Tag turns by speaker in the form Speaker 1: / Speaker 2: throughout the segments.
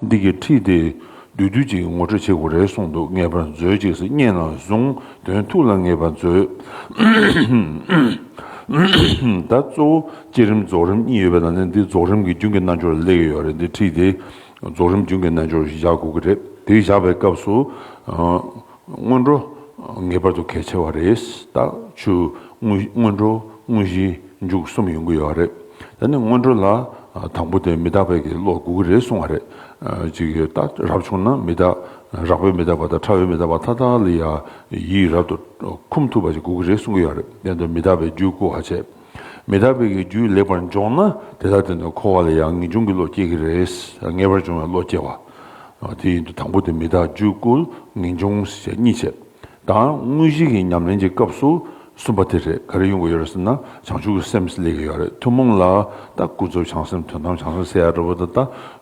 Speaker 1: འདི་གའི་ཁྲིད་དེ་བསྡུས་དུས་ཅིག་ངོ་སྤྲོད་བྱེད་དགོས་རེད་གསུངས་འདུག་ངེས་པར་མཛོད་ཅིག་སི་སྙན་ནང་བཟུང་དོན་ཐུགས་ལ་ངེས་པར་མཛོད། ད་གཙོ་བོ་བསྐྱེད་རིམ་རྫོགས་རིམ་གཉིས་ཡོད་པའི་ནང་ནས་འདི་རྫོགས་རིམ་གྱི་རྒྱུན་གྱི་རྣལ་འབྱོར་ལ་སླེབས་ཀྱི་ཡོད་རེད་འདི་ཁྲིད་དེ་རྫོགས་རིམ་རྒྱུན་གྱི་རྣལ་འབྱོར་ཞིག་བཞག་དགོས་ཀྱི་རེད་དེ་བཞག་པའི་སྐབས་སུ། སྔོན་འགྲོ་ངེས་པར་དུ་གལ་ཆེ་བ་རེད་ད། ཆུ་སྔོན་འགྲོ་དངོས་གཞི་མཇུག་གསུམ་ཡོང་གི་ཡོད་རེད་ད་ནི་སྔོན་འགྲོ་ལ་དང་པོ་དེ་མི་དག་པའི་གི་ལོག་གུག་རེད་གསུང་བ་རེད་ཅིག་ཡོད་ད་རབ་བྱུང་ན་མི་དག་རག་པའི་མི་དག་པ་དང་ཁྲ་བའི་མི་དག་པ་ཐ་དག་ལ་ཡ་ཡིག་རབ་ཏུ་འཁུམ་ཐུབ་པ་ཅིག་གུག་གི་རེད་གསུང་གི་ཡོད་རེད་དེ་ནི་མི་དག་པའི་རྒྱུད་བཀུར་བ་བྱས། མི་དག་བོད་ཀྱི་རྒྱུད་ལེགས་པར་འབྱོངས་ན་དེ་དག་དེ་འདྲ་འཁོར་བ་ལ་ཡང་ངེས་འབྱུང་གི་བློ་སྐྱེ་གི་རེད། ངེས་པར་འབྱུང་བའི་བློ་སྐྱེ་བ། དེ་ཡིན་དུ་དང་པོ་དེ་མི་དག་རྒྱུད་བསྐུལ་ངེས་འབྱུང་ཞེས་གཉིས་བྱེད། དང་དངོས་གཞི་གི་ཉམས་ལེན་གྱི་སྐབས་སུ་གསུམ་པ་དེ་རེད་ག་རེ་ཡོང་གི་ཡོད་རེད་ཟེར་ན་བྱང་ཆུབ་ཀྱི་སེམས་སླེབས་ཀྱི་ཡོད་རེད་ཐུན་མོང་ལ་ད་ཀུན་རྫོབ་བྱང་སེམས་དོན་དམ་བྱང་སེམས་སེ་ཡ་འདྲ་བོ་དང་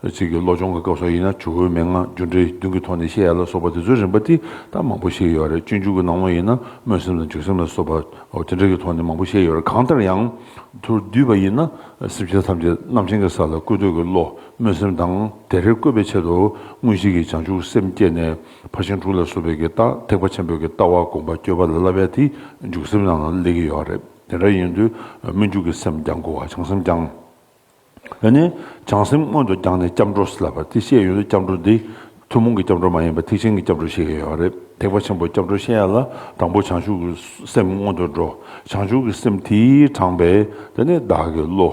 Speaker 1: ད་ཚིག་གི་བློ་སྦྱོང་གི་སྐབས་སོགས་ཡིན་ན་ཇོ་བོའི་མན་ངག་རྒྱུ་འབྲས་བདུན་གྱི་ཐོག་ནས་བཤད་ཡ་ལ་སོགས་པ་དེ་ཚོའི་རིམ་པ་དེ་ད་མང་པོ་ཤེས་ཀྱི་ཡོད་རེད་སྤྱོད་འཇུག་གི་སྣང་བ་ཡིན་ན་སྨོན་སེམས་དང་འཇུག་སེམས་ལ་སོགས་པ། དེ་འབྲེལ་གྱི་ཐོག་ནས་མང་པོ་བཤད་ཡོད་རེད་གང་ལྟར་ཡང། ཐུར་བསྡུས་པ་ཡིན་ན་སེམས་ཅན་ཐམས་ཅད་རྣམ་མཁྱེན་གྱི་ས་ལ་བཀོད་འདོད་ཀྱི་བློ་སྨོན་སེམས་དང་དེ་རེ་བཀོད་པའི་ཆེད་དུ་མངོན་ཤེས་ཀྱི་བྱང་ཆུབ་སེམས་བསྐྱེད་ནས་ཕར་ཕྱིན་དྲུག་ལ་བཟོད་པའི་གྱི་རྟགས་ཐེག་པ་ཆེན་པོའི་གྱི་རྟགས་བ་དགོངས་པ་བསྐྱོད་པ་ལ་བསླབ་པའི་དེ་འཇུག་སེམས་རྣམས་ལ་སླེབ་ཀྱི་ཡོད་རེད་དེ་འདྲ་ཡིན་དུས་སྨོན་འཇུག་གི་སེམས་ཀྱང་དགོས་བ་བྱང་སེམས་ཀྱང། ཡོད་ནི། བྱང་སེམས་སྔོན་དུ་བརྒྱངས་ནས་སྐྱབས་འགྲོ་ལབ་པ་དེ་ཤེས་ཡོད་ན་སྐྱབས་འགྲོ་འདི། ཐུན་མོང་གི་སྐྱབས་འགྲོ་མ་ཡིན་པར་ཐེག་ཆེན་གྱི་སྐྱབས་འགྲོ་ཞིག་ཡོད་པ་རེད་ཐེག་པ་ཆེན་པོའི་སྐྱབས་འགྲོ་ཤེས་ཡ་ལ་དང་པོ་བྱང་ཆུབ་ཀྱི་སེམས་སྔོན་དུ་འགྲོ་བྱང་ཆུབ་ཀྱི་སེམས་དེའི་དྲངས་པས་དེ་ནི་བདག་གི་བློ།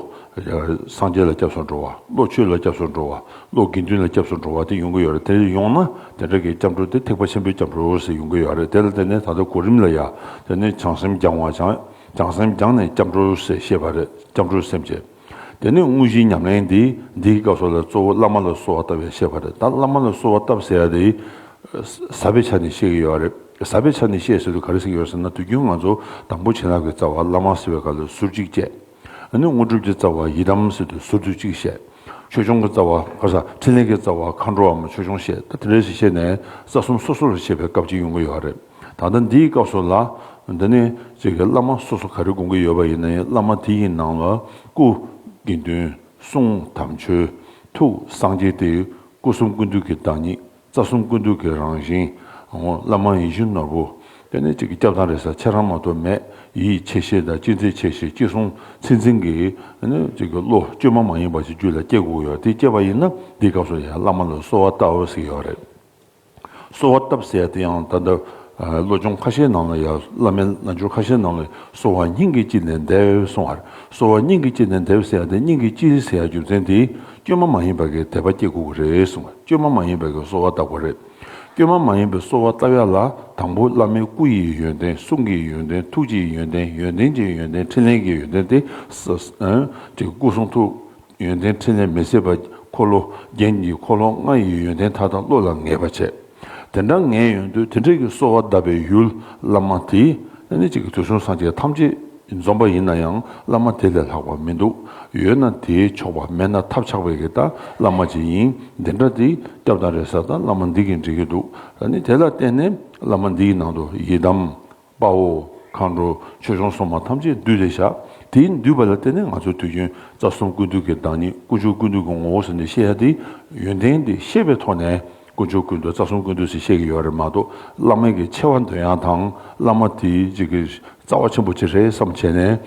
Speaker 1: སངས་རྒྱས་ལ་སྐྱབས་སུ་འགྲོ་བ་བློ་ཆོས་ལ་སྐྱབས་སུ་འགྲོ་བ་བློ་དགེ་འདུན་ལ་སྐྱབས་སུ་འགྲོ་བ་དེ་ཡོང་གི་ཡོད་རེད་དེ་ཡོང་ན་དེ་འདྲ་གི་སྐྱབས་འགྲོ་དེ་ཐེག་པ་ཆེན་པོའི་སྐྱབས་འགྲོ་ཟེར་ཡོང་གི་ཡོད་རེད་དེ་ལ་དེ་ནི་ད་ལྟ་གོ་རིམ་ལ་ཡ་དེ་ནི་བྱང་སེམས་བརྒྱངས་བ་བྱང་བྱང་སེམས་རྒྱང་ནས་སྐྱབས་འགྲོ་ཟེར་བཤད་པ་རེད་སྐྱབས་འགྲོའི་སེམས་བསྐྱེད། དེ་ནས་དངོས་གཞིའི་ཉམས་ལེན་འདི་འདིའི་སྐབས་སོགས་ལ་གཙོ་བོ་བླ་མ་ལ་གསོལ་བ་བཏབ་ཡ་བཤད་པ་རེད་ད་བླ་མ་ལ་གསོལ་བ་བཏབ་ཟེར་ཡ་དེ་ཟབ་པའི་ཆ་ནས་བཤད་ཀྱི་ཡོད་རེད་ཟབ་པའི་ཆ་ནས་བཤད་ཟེར་དུས་ག་རེ་ཟེར་གྱི་ཡོད་ཟེར་ན་དུས་རྒྱུན་ང་ཚོ་དང་པོ་བྱིན་རླབས་ཀྱི་རྩ་བ་བླ་མ་ཟེར་བའི་སྐབས་ལ་ཟུར་གཅིག་བཅད། དེ་ནས་དངོས་གྲུབ་ཀྱི་རྩ་བ་ཡི་དམ་ཟེར་དུས་ཟུར་དུ་གཅིག་བཤད། ཆོས་སྐྱོང་གི་རྩ་བ་ཕྲིན་ལས་ཀྱི་རྩ་བ་མཁའ་འགྲོའམ་ཆོས་སྐྱོང་བཤད་ད་དེ་རེ་ཞིག་བཤད་ནས་རྩ་གསུམ་སོ་སོ་ལ་བཤད་པའི་སྐབས་གཅིག་ཡོང་གི་ཡོད་རེད། ད་ལྟ་འདིའི་སྐབས་སུ་ལ། འདི་ནི་ཅིག་གི་བླ་མ་སོ་སོ་ག་རེ་དགོངས་ཀྱི་ཡོད་པ་ཡིན་ན་ཡང་བླ་མ་དེ་ཡི་ནང་ལ་སྐུ། དགེ་འདུན། གསུང། དམ་ཆོས། ཐུགས། སངས་རྒྱས་ཏེ། སྐུ་གསུམ་ཀུན་འདུས་ཀྱི་བདག་ཉིད། རྩ་གསུམ་ཀུན་འདུས་ཀྱི་རང་བཞིན། བླ་མ་ཡིད་བཞིན་ནོར་བུ། དེ་ནི་ཅིག་གི་སྐྱབས་དང་རེ་ས་ཆེ་རང་མ་གཏོགས་མེད། ཡིད་ཆེས་ཤེས་དང་ཅི་མཛད་ཆེས་ཤེས་ཅི་གསུང་ཚིག་འཛིན་གྱི། ནི་ཅིག་གི་བློ་བཅོས་མ་མ་ཡིན་པ་ཅིག་རྒྱུད་ལ་སྐྱེ་དགོས་ཀྱི་ཡོད་དེ་སྐྱེས་པ་ཡིན་ན་འདིའི་སྐབས་སུ་ཡང་བླ་མ་ལ་གསོལ་བ་བཏབ་ཟིག་ཡོད་རེད། གསོལ་བ་བཏབ་ཟེར་དེ་ཡང་ད་ལྟ་བློ་སྦྱོང་ཁ་ཤས་ནང་ལ་ཡང་བླ་མའི་རྣལ་འབྱོར་ཁ་ཤས་ནང་ལ་གསོལ་བ་སྙིང་གི་དཔྱིད་ནས་འདེབས་གསུང་བར་གསོལ་བ་སྙིང་གི་དཔྱིད་ནས་འདེབས་ཟེར་དེ་སྙིང་གི་དཔྱིད་ཟེར་རྒྱུ་མཚན་དེ་བཅོས་མ་མ་ཡིན་པ་གིས་དད་པ་སྐྱེ་དགོས་པ་རེད་གསུང་བར་བཅོས་མ་མ་ཡིན་པ་གིས་གསོལ་བ་བཏབ་པ་རེད། བཅོས་མ་མ་ཡིན་པའི་གསོལ་བ་བཏབ་ཡ་ལ་དང་པོ་བླ་མའི་སྐུ་ཡི་ཡོན་ཏན་གསུང་གི་ཡོན་ཏན་ཐུགས་ཀྱི་ཡོན་ཏན་ཡོན་ཏན་གྱི་ཡོན་ཏན་ཕྲིན་ལས་ཀྱི་ཡོན་ཏན་དེ། སྐུ་གསུང་ཐུགས། ཡོན་ཏན་ཕྲིན་ལས་མི་ཟད་པ། འཁོར་ལོ་རྒྱན་གྱི་འཁོར་ལོ་ལྔ་ཡི་ཡོན་ཏན་མཐའ་དག་བློ་ལ་ངེས་པར་བྱས། དེ་འདྲ་ངེས་ཡོན་དུ་དེ་འདྲ་གྱི་གསོལ་བ་གདབ་པའི་ཡུལ་བླ་མ་དེ་ནི་གཅིག་གི་དུས་གསུམ་སངས་རྒྱས་ཐམས་ཅད་འཛོམ་པ་ཡིན་ན་ཡང་བླ་མ་དེ་ལས་ལྷག་པ་མི་འདུག་ཡོད་ན་དེའི་ཆོག་པ་མེད་ན་ཐབས་ཆག་པའི་གི་ད་བླ་མ་ཅིག་ཡིན་འདི་འདྲ་དེ་སྐྱབས་དང་རེ་ས་ད་བླ་མ་འདི་གིས་འགྲིག་གི་འདུག་ད་ནི་དེ་ལ་བརྟེན་ནས་བླ་མ་འདིའི་ནང་དུ་ཡི་དམ་པའོ། མཁའ་འགྲོ་ཆོས་སྐྱོང་སོགས་མ་ཐམས་ཅད་བསྡུས་ཏེ་བཞག་དེའི་འདུས་པ་ལ་བརྟེན་ནས་ང་ཚོས་དུས་རྒྱུན་རྩ་གསུམ་ཀུན་འདུས་ཀྱི་བདག་ཉིད་དཀོན་མཆོག་ཀུན་འདུས་ཀྱི་ངོ་བོ་ཟེར་ནས་བཤད་ཡ་དེ་ཡོན་ཏན་དེ་ཤེས་པའི་ཐོག་ནས་དཀོན་མཆོག་ཀུན་འདུས་རྩ་གསུམ་ཀུན་འདུས་ཟེར་བཤད་ཀྱི་ཡོད་རེད་མ་གཏོགས་བླ་མེད་ཀྱི་ཆེ་བ་འདོན་ཡ་དང་བླ་མ་དེ་གཅིག་གི་རྩ་བ་ཆེན་པོ་གཅིག་རེད་བསམ་བྱས་ནས་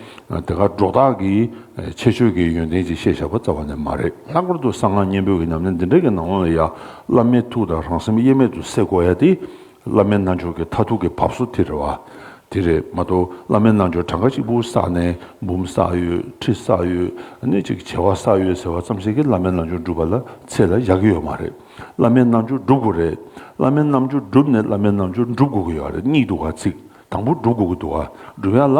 Speaker 1: དེ་གར་སྒྲོག་དག་གིས་ཆེ་ཆོས་ཀྱི་ཡོན་ཏན་གཅིག་བཤད་བཞག་པ་རྩ་བ་ནས་མ་རེད། ལྷག་པར་དུ་གསང་སྔགས་སྙིང་པོའི་ཉམས་ལེན་འདི་འདྲ་གི་ནང་ལ་ཡ་བླ་མའི་ཐུགས་དང་རང་སེམས་དབྱེར་མེད་དུ་བསྲེ་བསྐོར་ཡ་དེ་བླ་མའི་རྣལ་འབྱོར་གྱི་མཐའ་ཐུག་གི་བབས་སོ་དེ་རེད་བ། དེ་རེད་མ་གཏོགས་བླ་མའི་རྣལ་འབྱོར་གྲངས་ཀ་གཅིག་པུ་བསགས་ནས་འབུམ་བསགས་ཡོད་ཁྲི་བསགས་ཡོད་སྣེ་གཅིག་བྱེ་བ་བསགས་ཡོད་ཟེར་བ་ཙམ་ཞིག་གིས་བླ་མའི་རྣལ་འབྱོར་འགྲུབ་པ་ལ་ཚད་ལ་ཡག་གི་ཡོད་མ་རེད། བླ་མའི་རྣལ་འབྱོར་འགྲུབ་དགོས་རེད། བླ་མའི་རྣལ་འབྱོར་འགྲུབ་ནས་བླ་མའི་རྣལ་འབྱོར་འགྲུབ་དགོས་ཀྱི་ཡོད་རེད་གཉིས་འདུག་ག་ཚིག་དང་པོ་འགྲུབ་དགོས་ཀྱི་འདུག་ག་འགྲུབ་ཡ་ལ།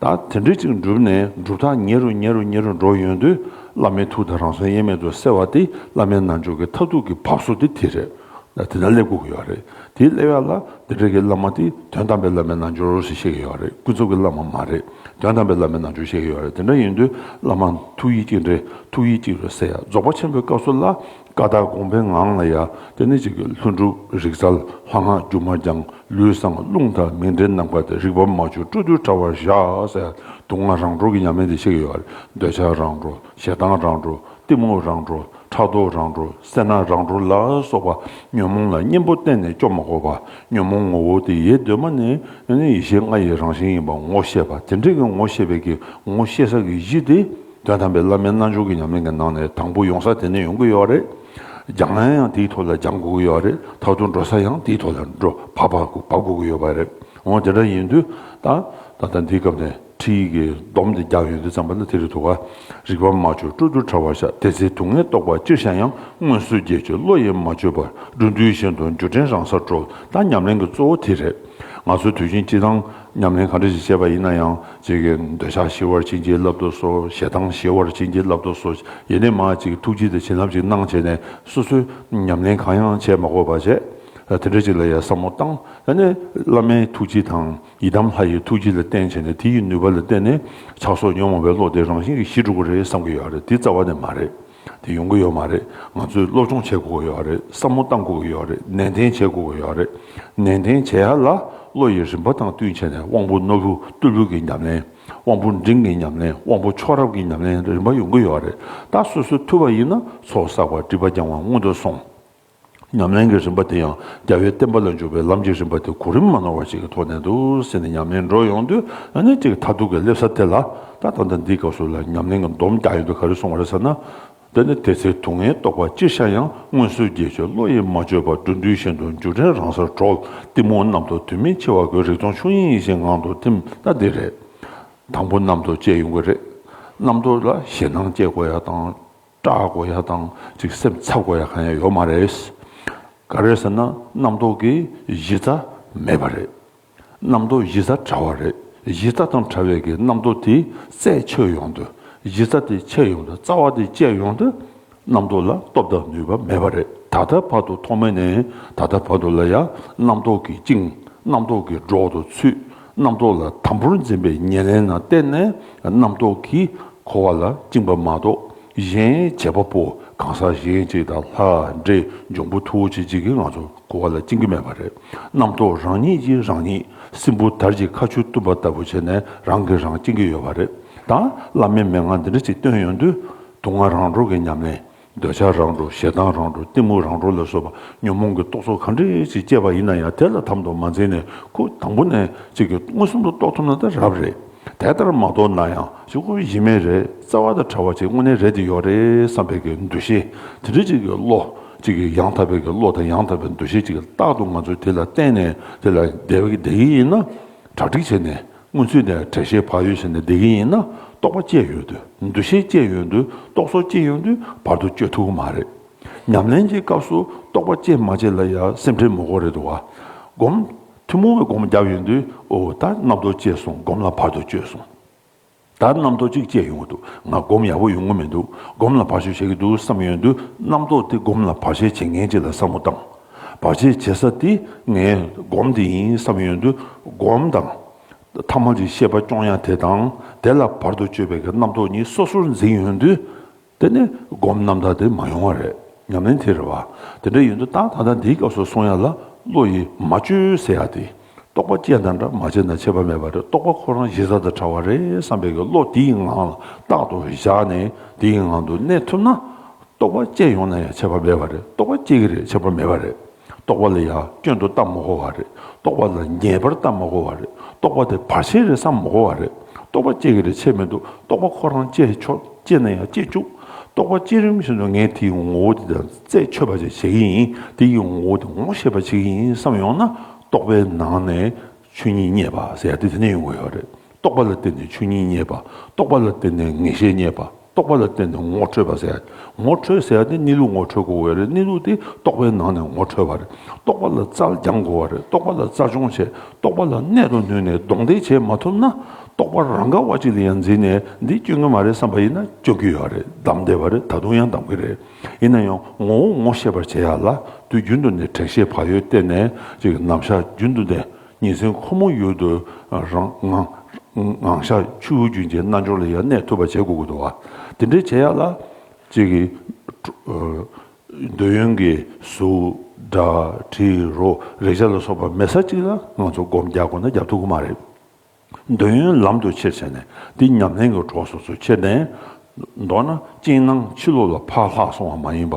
Speaker 1: ད་དེ་འདྲ་ཅིག་འགྲུབ་ནས་གྲུབ་མཐའ་ཉེ་རུ་ཉེ་རུ་ཉེ་རུ་འགྲོ་ཡོང་དུས་བླ་མའི་ཐུགས་དང་རང་སོ་དབྱེར་མེད་དུ་གསལ་བ་དེ་བླ་མའི་རྣལ་འབྱོར་གྱི་མཐར་ཐུག་གི་བབས་སོ་དེ་དེ་རེད། ད་དེ་འདྲ་སླེབས་དགོས་ཀྱི་ཡོད་རེད་དེ་སླེབས་ཡག་ལ་དེ་འདྲ་གི་བླ་མ་དེ་དོན་དམ་པའི་བླ་མའི་རྣལ་འབྱོར་ཞེས་བཤད་ཀྱི་ཡོད་རེད་ཀུན་རྫོབ་ཀྱི་བླ་མ་མ་རེད་དོན་དམ་པའི་བླ་མའི་རྣལ་འབྱོར་བཤད་ཀྱི་ཡོད་རེད་དེ་འདྲ་ཡིན་དུས་བླ་མ་ཐུགས་ཡིད་གཅིག་འདྲེས་ཐུགས་ཡིད་གཅིག་རེད་ཟེར་ཡག་རྫོགས་པ་ཆེན་པོའི་སྐབས་སུ་ལ་ཀ་དག་དགོངས་པའི་ངང་ལ་ཡང་དེ་ནི་གཅིག་ལྷུན་གྲུབ་རིག་རྩལ་ལྷ་སྔགས་སྒྱུ་མ་རྒྱང་ལུས་བཟང་རླུང་དང་མིང་འབྲེལ་ནམ་མཁའ་དང་རིག་པ་མ་བཅོས་སྤྲོ་བསྡུའི་དྲྭ་བར་བཞག་གསལ་སྡུག་བསྔལ་རང་གྲོལ་གྱི་ཉམས་ལེན་འདི་ཤེས་ཀྱི་ཡོད་རེད་འདོད་ཆགས་རང་གྲོལ་ཞེ་སྡང་རང་གྲོལ་གཏི་མུག་རང་གྲོལ་ཕྲག་དོག་རང་གྲོལ་སེར་སྣ་རང་གྲོལ་ལ་སོགས་པ་ཉོན་མོངས་ལ་གཉེན་པོ་གཏན་ནས་སྐྱོ་མ་དགོས་པར་ཉོན་མོངས་ངོ་བོ་དེ་ཡེ་གདོད་མ་ནས་ཡེ་ཤེས་ལྔ་ཡི་རང་བཞིན་ཡིན་པར་ངོ་ཤེས་པ་དེ་འདྲས་ཀྱི་ངོ་ཤེས་པའི་ཀྱི་ངོ་ཤེས་ས་ཀྱི་གཞི་དེ། དོན་དམ་པའི་བླ་མའི་རྣལ་འབྱོར་གྱི་ཉམས་ལེན་གྱི་ནང་ནས་དང་པོ་ཡོང་ས་དེ་ནས་ཡོང་གི་ཡོད་རེད། སྦྱང་ན་ཡང་དེའི་ཐོག་ལ་སྦྱང་དགོས་ཀྱི་ཡོད་རེད་ད་དུང་འགྲོ་ས་ཡང་དེའི་ཐོག་ལ་འགྲོ་བག་བག་དགོས་ཀྱི་ཡོད་པ་རེད་འོང་དེ་འདྲ་ཡིན་དུས་ད་ད་ལྟ་འདིའི་སྐབས་ནས་ཁྲིད་ཡིག་གི་སྡོམ་དེ་རྒྱག་ཡོང་དུས་ཙམ་པ་ལ་དེ་རིགས་དུ་བ་རིག་པ་མ་བཅོས་སྤྲོ་བསྡུར་ཕྲ་བ་ཤ་དེ་ཚེ་དུག་ལྔའི་རྟོག་པ་ཅིར་བྱ་ཡང་སྔོན་བསུ་རྒྱས་བཅོས་བློ་ཡིས་མ་བཅོས་པར་འགྲོ་འདུལ་བཞིན་དུ་འགྱུ་དྲན་རང་སར་འགྲོ་ད་ཉམས་ལེན་གྱི་གཙོ་བོ་དེ་རེད་ང་ཚོ་དུས་ཆེན་སྤྱི་དང། ཉམས་ལེན་གང་འདྲ་ཞིག་བྱས་པ་ཡིན་ན་ཡང་གཅིག་གིས་འདོད་ཆགས་ཞི་བར་བྱིན་གྱིས་བརླབ་ཏུ་གསོལ་ཞེ་སྡང་ཞི་བར་བྱིན་གྱིས་བརླབ་ཏུ་གསོལ་ཡེ་ནས་མ་ཅིག་ཐུགས་རྗེ་དེ་བྱིན་རླབས་ཅིག་གནང་བྱས་ནས་སོ་སོའི་ཉམས་ལེན་གང་ཡང་བྱས་མ་དགོས་པར་བྱས། དེ་འདྲ་ཅིག་ལ་ཡང་བསམ་བློ་བཏང་ནས་བླ་མའི་ཐུགས་རྗེ་དང་ཡི་དམ་ལྷ་ཡི་ཐུགས་རྗེ་ལ་བརྟེན་བྱས་ནས་དེ་ཡི་ནུས་པ་ལ་བརྟེན་ནས་ཆགས་སོགས་ཉོན་མོངས་པའི་བློ་དེ་རང་བཞིན་གྱིས་ཞི་འགྲོ་གི་རེད་བསམ་གྱི་ཡོད་རེད་དེ་རྩ་བ་ནས་མ་རེད། དེ་ཡོང་གི་ཡོད་མ་རེད་ང་ཚོས་སློབ་སྦྱོང་བྱེད་དགོས་ཀྱི་ཡོད་རེད་བསམ་བློ་གཏང་དགོས་ཀྱི་ཡོད་རེད་ནན་ཏན་བྱེད་དགོས་ཀྱི་ཡོད་རེད་ནན་ཏན་བྱེད་ཡ་ལ་བློ་ཡི་རིམ་པ་དང་བསྟུན་བྱས་ནས་དབང་པོ་རྣོ་རུ་རྟུལ་བུ་གྱི་ཉམས་ལེན་དབང་པོ་འབྲིང་གི་ཉམས་ལེན་དབང་པོ་མཆོག་རབ་ཀྱི་ཉམས་ལེན་རིམ་པ་ཡོང་གི་ཡོད་རེད་ད་སོ་སོ་ཐུབ་པ་ཡིན་ན་ཚོགས་བསགས་པ་སྒྲིབ་པ་རྒྱང་བ་སྔོན་དུ་སོང། ཉམས་ལེན་གྱི་རིམ་པ་དེ་ཡང་རྒྱལ་བའི་བསྟན་པ་ལ་འཇུག་པའི་ལམ་གྱི་རིམ་པ་དེ་གོ་རིམ་མ་ནོར་བ་ཞིག་གི་ཐོག་ནས་དུ་ཟིན་ནས་ཉམས་ལེན་འགྲོ་ཡོང་དུས་ཨ་ནེ་གཅིག་མཐར་ཐུག་གི་སླེབས་ས་དེ་ལ་ད་ལྟ་འདི་འདིའི་སྐབས་སུ་ལ་ཉམས་ལེན་གྱི་འདོམས་རྒྱག་ཡོད་པའི་ག་རེ་སོང་བ་རེད་ཟེར་ན། དེ་ནི་དེ་ཚེ་དུག་ལྔའི་རྟོག་པ་ཅིར་ཤར་ཡང་སྔོན་བསུ་རྒྱས་བཅོས་བློ་ཡིས་མ་བཅོས་པར་འགྲོ་འདུལ་ཤིན་ཏུ་འཇུག་འབྲས་རང་སར་གྲོལ་གཏི་མུག་གནམ་དུ་དུས་མིན་འཆི་བ་གོས་རིག་སྟོང་ཆོས་དབྱིངས་ཡེ་ཤེས་ངང་དུ་ཐིམ་ད་འདི་རེད། དང་པོ་གནམ་དུ་བཅས་ཡོང་གི་རེད། གནམ་དུ་ལ་ཞེད་སྣང་སྐྱེ་དགོས་ཡ་དང། སྐྲ་བགོ་ཡ་དང་གཅིག་སེམས་ཚབ་བགོ་ཡ་གང་ཡང་ཡོད་མ་རེད། ག་རེད་ཟེར་ན་རྣམ་རྟོག་གི་གཞི་རྩ་མེད་པ་རེད། རྣམ་རྟོག་གཞི་རྩ་བྲལ་བ་རེད། གཞི་རྩ་དང་བྲལ་བས་ཀྱི་རྣམ་རྟོག་དེ་རྩད་ཆོད་ཡོང་དུས་གཞི་རྩ་དེ་ཆད་ཡོང་དུས་རྩ་བ་དེ་བཅད་ཡོང་དུས་རྣམ་རྟོག་ལ་སྟོབས་དང་ནུས་པ་མེད་པ་རེད་ད་ལྟ་བར་དུ་ཐོག་མེད་ནས་ད་ལྟ་བར་དུ་ལ་ཡང་རྣམ་རྟོག་གིས་བཅིངས་རྣམ་རྟོག་གིས་སྒྲོག་ཏུ་ཚུད། རྣམ་རྟོག་ལ་དམ་པོར་འཛིན་པའི་ཉེར་ལེན་ན་བརྟེན་ནས་རྣམ་རྟོག་གིས་འཁོར་བ་ལ་བཅིངས་པ་མ་གཏོགས་གཞན་བྱེད་པ་པོ་གང་ཟག་གཞན་གཅིག་དང་ལྷ་འདྲེ་འབྱུང་པོ་ཐུ་བོ་ཆེ་གཅིག་གིས་ང་ཚོར་འཁོར་བ་ལ་བཅིངས་ཀྱི་མེད་པ་རེད། རྣམ་རྟོག་རང་ཉིད་ཀྱིས་རང་ཉིད་སྲིན་བུ་དར་གྱི་ཁ་ཆུ་བཏུམ་པ་ལྟ་བུ་བྱས་ནས་རང་གིས་རང་བཅིངས་ཀྱི་ཡོད་པ་རེད། ད་བླ་མའི་མན་ངག་འདི་འདྲ་ཅིག་བཏོན་ཡོང་དུས་དུག་ལྔ་རང་གྲོལ་གྱི་ཉམས་ལེན་འདོད་ཆགས་རང་གྲོལ་ཞེ་སྡང་རང་གྲོལ་གཏི་མུག་རང་གྲོལ་ལ་སོགས་པ་ཉོན་མོངས་ཀྱི་རྟོག་ཚོགས་གང་འདྲས་ཅིག་སྐྱེས་པ་ཡིན་ན་ཡང་དེ་ལ་དམ་དུ་མ་འཛིན་ནས་ཁུ་དང་པོ་ནས་གཅིག་གིས་མངོན་སུམ་དུ་རྟོགས་ཐུབ་ན་དེ་རབ་རེད། དེ་ལྟར་མ་རྟོགས་ན་ཡང་གཅིག་ཁོ་བོའི་ཡིད་མེད་རེད་རྩ་བ་དང་བྲལ་བ་གཅིག་དངོས་གནས་རེད་འདི་ཡོད་རེད་བསམ་པའི་གི་འདུ་ཤེས་དེ་འདྲ་གཅིག་གི་བློ་གཅིག་གི་ཡང་དག་པའི་གི་བློ་དང་ཡང་དག་པའི་འདུ་ཤེས་གཅིག་རྟག་ཏུ་ང་ཚོས་དེ་ལ་བརྟེན་ནས་དེ་ལ་བདེ་བ་བདེ་ཡིན་ན་གྲ་སྒྲིག་བྱས་ནས་མངོན་ཚུལ་ནི་དྲན་ཤེས་བག་ཡོད་བཞིན་དུ་བདེ་གི་ཡིན་ན་རྟོག་པ་སྐྱེས་ཡོད་དུས་འདུ་ཤེས་སྐྱེས་ཡོད་དུས་རྟོག་བཟོ་སྐྱེས་ཡོད་དུས་བར་དུ་གཅོད་ཐུབ་ཀྱི་མ་རེད། ཉམས་ལེན་གྱི་སྐབས་སུ་རྟོག་པ་སྐྱེས་མ་སྐྱེས་ལ་ཡང་སེམས་ཁྲལ་མི་དགོས་རེད་དོ། སྒོམ། ཐུན་མོང་བའི་སྒོམ་བརྒྱབ་ཡོད་དུས་འོ་ད་རྣམ་རྟོག་སྐྱེས་སོང་སྒོམ་ལ་བར་དུ་གཅོད་སོང། ད་རྣམ་རྟོག་གཅིག་སྐྱེས་ཡོང་གི་འདུག་ང་སྒོམ་ཡག་པོ་ཡོང་གི་མི་འདུག་སྒོམ་ལ་བར་གཅོད་བྱེད་ཀྱི་འདུག་བསམ་ཡོད་དུས་རྣམ་རྟོག་དེ་སྒོམ་ལ་བར་ཆད་བྱེད་ངེས་ཅི་ལ་བསམ་བློ་བཏང། བར་ཆད་བྱེད་ས་དེ་ངས་སྒོམ་དེ་ཡིན་བསམ་ཡོན་དུ་སྒོམ་དང། ཐ་མ་རིག་ཤེས་པ་སྐྱོང་ཡང་དེ་དང་དེ་ལ་བར་དུ་གཅོད་པའི་གི་རྣམ་རྟོག་གཉིས་སོ་སོར་འཛིན་ཡོན་དུ། དེ་ནི་སྒོམ་རྣམ་དག་དེ་མ་ཡོང་བ་རེད་སྙམ་ནས་དེ་རེད་བ། དེ་འདྲ་ཡོན་དུ་ཏང་ད་ལྟ་འདིའི་སྐབས་སུ་སོང་ཡ་ལ་བློ་ཡིས་མ་བཅོས་ཟེར་ཡ་དེ། རྟོག་པ་ཅན་དང་འདྲ་མ་བྱས་ན་ཆད་པ་མེད་པ་རེད་རྟོག་པ་ཁོ་རང་གཞི་རྩ་དང་བྲལ་བ་རེད་བསམ་པའི་བློ་དེའི་ངང་ལ་རྟག་ཏུ་བཞག་ནས་དེའི་ངང་དུ་གནས་ཐུབ་ན། རྟོག་པ་ཅན་ཡོང་ན་ཡང་ཆད་པ་མེད་པ་རེད་རྟོག་པ་སྐྱེ་གི་རེད་ཆད་པ་མེད་པ་རེད་རྟོག་པ་ལ་ཡང་སྐྱོན་དུ་ལྟ་མི་དགོས་བ་རེད་རྟོག་པ་ལ་ངེས་པར་ལྟ་མི་དགོས་བ་རེད་རྟོག་པ་དེ་བར་ཆད་རེད་བསམ་མི་དགོས་བ་རེད་རྟོག་པ་སྐྱེ་གི་རེད་ཆད་མི་འདུག་རྟོག་པ་ཁོ་རང་སྐྱེ་ཆོག་སྐྱེ་ན་ཡང་སྐྱེ་བཅུག་རྟོག་པ་སྐྱེ་རིམ་བཞིན་དུ་ངས་དེའི་ངོ་བོ་དེ་དང་རྩད་ཆོད་པ་བྱེད་ཀྱི་ཡིན་དེའི་ངོ་བོ་དེ་ངོ་ཤེས་པ་བྱེད་ཀྱི་ཡིན་བསམ་ཡོང་ན། རྟོག་པའི་ནང་ནས་ཆོས་ཉིད་རྙེད་པ་ཟེར་ཡ་དེ་དེ་ནས་ཡོང་གི་ཡོད་རེད། རྟོག་པ་ལ་བརྟེན་ནས་ཆོས་ཉིད་རྙེད་པ་རྟོག་པ་ལ་བརྟེན་ནས་ངེས་ཤེས་རྙེད་པ་རྟོག་པ་ལ་བརྟེན་ནས་ངོ་འཕྲོད་པ་ཟེར་ངོ་འཕྲོད་ཟེར་ཡ་དེ་གནས་ལུགས་ངོ་འཕྲོད་དགོས་གི་ཡོད་རེད་གནས་ལུགས་དེ་རྟོག་པའི་ནང་ནས་ངོ་འཕྲོད་པ་རེད་རྟོག་པ་ལ་རྩལ་སྦྱང་དགོས་བ་རེད་རྟོག་པ་ལ་རྩལ་སྦྱོང་བྱས་རྟོག་པ་ལ་གནད་དུ་བསྣུན་ནས་གདོང་གཏད་བྱས་མ་ཐུབ་ན་རྟོག་པ་རང་ག་བ་ཅིག་ལ་ཡང་འཛིན་ནས་འདི་སྐྱོན་གི་མ་རེད་བསམ་པ་ཡིན་ན་སྐྱོན་གི་ཡོད་རེད་བདམས་བསྡད་པ་རེད་ད་དུང་ཡང་བདམས་གི་རེད། ཡིན་ན་ཡང་ངོ་བོ་ངོ་ཤེས་པར་བྱེད་ཡ་ལ་དུས་རྒྱུན་དུ་ནི་དྲན་ཤེས་བག་ཡོད་བསྟེན་ནས་ཅིག་ནམ་ཞག་རྒྱུན་དུ་ནས་ཉིན་མཚན་ཁོ་མོ་ཡུལ་དུ་རངངང་ཞག་ཆུ་བོ་རྒྱུན་གྱི་རྣལ་འབྱོར་ལ་ཡང་གནས་ཐུབ་པར་བྱེད་དགོས་དགོས་དོ། དེ་འདྲའི་བྱེད་ཡ་ལ་ཅིག་འདོད་ཡོན་གྱི་གཟུགས་སྒྲ་དྲི་རོ་རེག་བྱ་ལ་སོགས་པ་མེད་ས་ཅིག་ལ་ང་ཚོ་སྒོམ་རྒྱག་དགོས་ན་རྒྱག་ཐུབ་ཀྱི་མ་རེད། འདོད་ཡོན་ལམ་དུ་ཆེ་བྱས་ནས་འདི་ཉམས་ལེན་གྱི་གྲོགས་སོ་སོ་ཁྱེར་ཏེ། མདོར་ན་སྤྱན་སྣང་ཕྱི་ལོགས་ལ་ཕར་ལྷག་སོང་བ་མ་ཡིན་པ།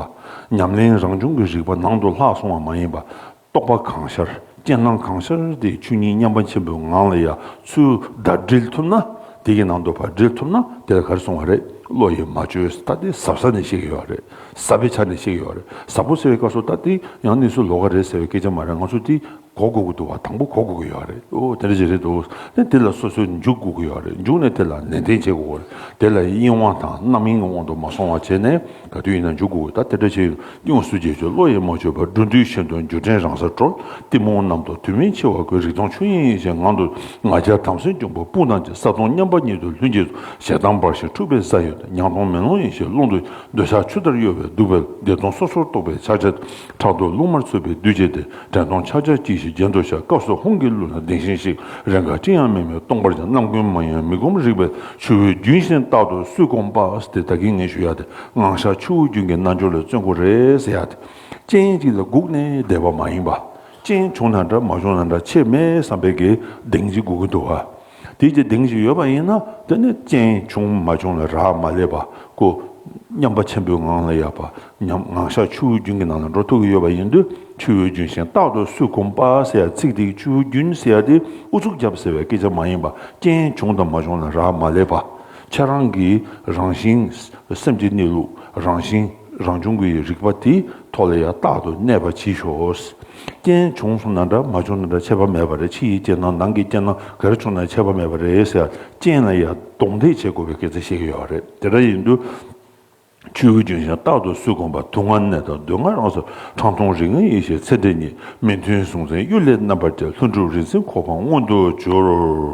Speaker 1: ཉམས་ལེན་རང་བྱུང་གི་རིག་པ་ནང་དུ་ལྷག་སོང་བ་མ་ཡིན་པ། རྟོགས་པ་གང་ཤར་སྤྱན་སྣང་གང་ཤར་དེའི་ཆོས་ཉིད་མཉམ་པ་ཆེན་པོའི་ངང་ལ་ཡ་མཚུར་བརྡ་སྒྲིལ་ཐུབ་ན། དེ་ཡི་ནང་དུ་བར་སྒྲིལ་ཐུབ་ན་དེ་ལ་གར་སོང་བ་རེད་བློ་ཡིས་མ་བཅོས་ས་སྟེ་ཟབ་ས་ནས་གཤེགས་ཡོད་བ་རེད་ཟབ་པའི་ཆ་ནས་གཤེགས་ཡོད་བ་རེད་ཟབ་པོ་ཟེར་བའི་སྐབས་སུ་ད་ལྟའི་ཡང་གནས་ཚུལ་ལོགས་ཀ་རེད་ཟེར་བའི་སྐད་ཆ་མ་རེད་ང་ཚོ་འདི་གོ་དགོས་ཀྱི་འདུག་བ་དང་པོ་གོ་དགོས་ཀྱི་ཡོད་རེད་འདུག་དེ་འདྲ་ཞིག་རེད་འདུག་དེ་འདི་ལ་སོ་སོས་འཇུག་དགོས་ཀྱི་ཡོད་རེད་འཇུག་ནས་དེ་ལ་ནན་ཏན་བྱེད་དགོས་རེད་དེ་ལ་གཡེང་བ་དང་རྣམ་གཡེང་གི་དབང་དུ་མ་སོང་བ་བྱས་ནས་ག་དུས་ཡིན་ན་འཇུག་དགོས་ཀྱི་ད་དེ་འདྲ་ཞིག་གཡུང་སུ་རྒྱལ་མཆོག་བློ་ཡིས་མ་བཅོས་པར་འགྲོ་འདུལ་ཆེན་དུ་འགྱུར་དྲན་རང་སར་གྲོལ་གཏི་མུག་རྣམས་དང་དུས་མིན་འཆི་བ་ཀུན་རིག་སྟོང་ཆོས་དབྱིངས་ཡེ་ཤེས་ངང་དུ་ང་རྒྱལ་དམ་སེལ་འབྱུང་པོ་སྤུན་དང་བཅས་ས་སྟོང་མཉམ་པ་ཉིད་དུ་ལྷུན་གྱིས་སུ་ཞེ་སྡང་འབར་ཞིང་འཁྲུགས་པའི་ས་ཡོད་དེ་མྱང་སྟོང་མེ་ལོང་ཡེ་ཤེས་ཀློང་དུ་འདོད་ཆགས་ཆུ་ལྟར་གཡོ་བའི་གདུག་པའི་བདེ་སྟོང་སོ་སོར་རྟོག་པའི་ཆགས་བྲལ་དུ། ཕྲག་ཏུ་རླུང་དམར་ཚུད་པའི་བདུད་བྱས་ཏེ་དྲན་སྟོང་ཆག་ཆག་སྐྱིད་ཞིག་རྒྱན་དུ་བཞག་སྐབས་སུ་ཧོང་གི་གླུ་ལ་ལྡིང་ཞིང་ཤིག་རེ་འགའ་ཅི་ཡང་མིན་པའི་སྟོང་པར་ཀྱང་རྣམ་ཀུན་མ་ཡེངས་མི་སྒོམ་རིག་པའི་ཆུ་བོའི་རྒྱུན་བཞིན་རྟག་ཏུ་བསུས་སྐོང་པས་དེ་ད་གིན་ངེས་ཞུ་ཡ་དེ་སྔངས་ཤར་ཆུ་བོའི་རྒྱུན་གྱི་རྣལ་འབྱོར་ལས་བརྩོན་ཁོ་རེ་ཟེར་ཡ་དེ་སྤྱན་གཅིག་ལ་བསྒུགས་ནས་བསྡད་པ་མ་ཡེངས་པ་སྤྱན་བྱུང་ན་འདྲ་མ་བྱུང་ན་འདྲ་ཆེས་མེད་བསམ་པའི་གདེང་གཅིག་སྒུག་གིན་འདུག་བ། དེའི་དེ་གདེངས་ཤིག་ཡོད་པ་ཡིན་ན་དེ་ནི་རྐྱེན་བྱུང་མ་བྱུང་ལ་རག་མ་ལས་པ་ཀོ། སྙམ་པ་ཆེན་པོའི་ངང་ལ་ཡལ་པ་ཉམས་ངང་ཤར་ཆུ་བོའི་རྒྱུན་གྱི་ནང་ལ་འགྲོ་ཐུག་གི་ཡོད་པ་ཡིན་དུས་ཆུ་བོའི་རྒྱུན་བཞིན་རྟག་ཏུ་སུས་ཁུམ་པ་ཟེར་ཡ་ཚིག་དེའི་ཆུ་བོའི་རྒྱུན་ཟེར་ཏེ་ཨུ་ཚུགས་རྒྱབ་ཟེར་བའི་སྐད་ཆ་མ་ཡིན་པ་རྐྱེན་བྱུང་དང་མ་བྱུང་ལ་རག་མ་ལས་པ་ཁྱེད་རང་གི་རང་བཞིན་སེམས་ཀྱི་གནས་ལུགས་རང་བཞིན། རང་བྱུང་གི་རིག་པ་དེ་ཐོག་ལ་ཡང་རྟག་ཏུ་གནས་པར་བགྱིད་ཤོག། རྐྱེན་བྱུང་སོང་ན་འདྲ་མ་བྱུང་ན་འདྲ་ཆད་པ་མེད་པ་རེད་ཕྱི་ཡི་རྐྱེན་དང་ནང་གི་རྐྱེན་ནམ་ག་རེ་བྱུང་ན་ཆད་པ་མེད་པ་རེད་ཟེར་ཡང་རྐྱེན་ལ་ཡང་གདོང་ཐེག་བྱེད་དགོས་པའི་སྐད་ཆ་བཤད་ཀྱི་ཡོད་རེད་དེ་འདྲ་ཡིན་དུས། ཆོས་ཀུན་འབྱུང་ཞིང་རྟག་ཏུ་སུས་གོམས་པ་དུག་ལྔ་ནད་དང་བདུད་ལྔ་རང་སར་ཁྲང་ཐུང་རིགས་ལྔའི་ཡེ་ཤེས་ཚེ་འདི་ཉིད་མི་མཐུན་གཟུང་འཛིན་གཡུལ་ལས་རྣམ་པར་རྒྱལ་ལྷུན་གྲུབ་རིན་ཆེན་གོ་འཕང་མངོན་དུ་གྱུར།